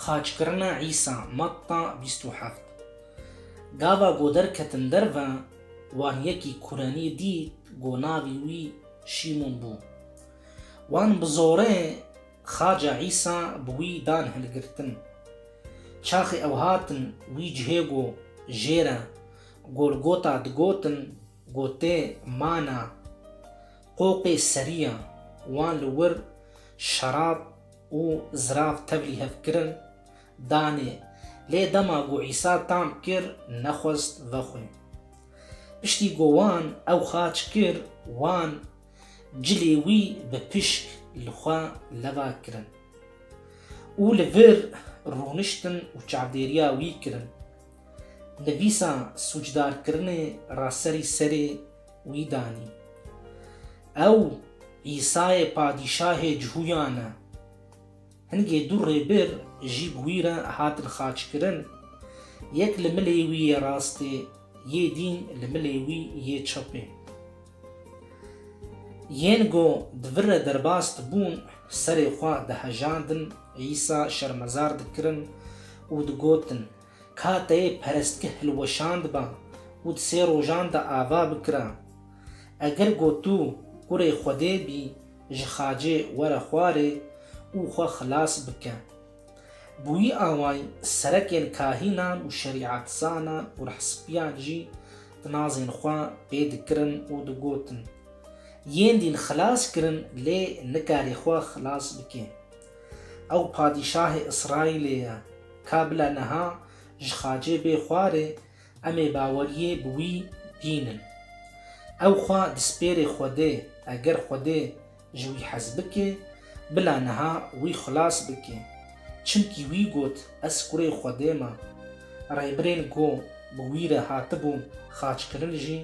Xaçkirina Îsa, Matta bîst û heft Gava ku derketin derve, wan yekî Kurenî dît ku navê wî Şîmon bû. Wan bi zorê xaca Îsa bi wî dan hilgirtin. Çaxê ew hatin wî cihê ku jê re Golgota digotin, gotê, Mana. Qoqê seriya wan li wir şerab û zirav tevlî hev kirin, danê, lê dema ku Îsa tam kir nexwest vexwe. Piştî ku wan ew xaç kir, wan cilê wî bi pişk li xwe leva kirin û li vir rûniştin û çavdêriya wî kirin. Nivîsa sûcdarkirinê ra serî serê wî danî. Ew Îsayê Padîşahê cihûyan e. Hingê du rêbir jî bi wî re hatin xaçkirin, yek li milê wî yê rastê yê dîn li milê wî yê çepê. Yên ku di vir re derbas dibûn serê xwe dihejandin, Îsa şermezar dikirin û digotin, Kateyê perestge hilweşandba û di sê rojan de ava bikira. Eger got tu kurê Xwedê bî, ji xacê were xwarê û xwe xilas bike. Bi wî awayî serekên kahînan û şerîatzanan û rehsbiyan jî tinazên xwe pê dikirin û digotin, Yên dîn xilas kirin lê nikarî xwe xilas bike. Ew padîşahê Îsraîlê ye. Ka bila niha ji Xacê bê xwarê, em ê baweriyê bi wî bînin. Ew xwe dispêrê Xwedê, eger Xwedê ji wî hez bike, bila niha wî xilas bike. Çimkî wî got, Ez kurê Xwedê me. Rêbirên ku bi wî re hatibûn xaçkirin jî,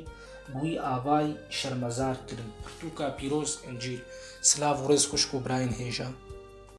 bi wî avay şermezar kirin. Pirtûka pîroz, Încîl. Silav û rêz xwişk û birayên hêja.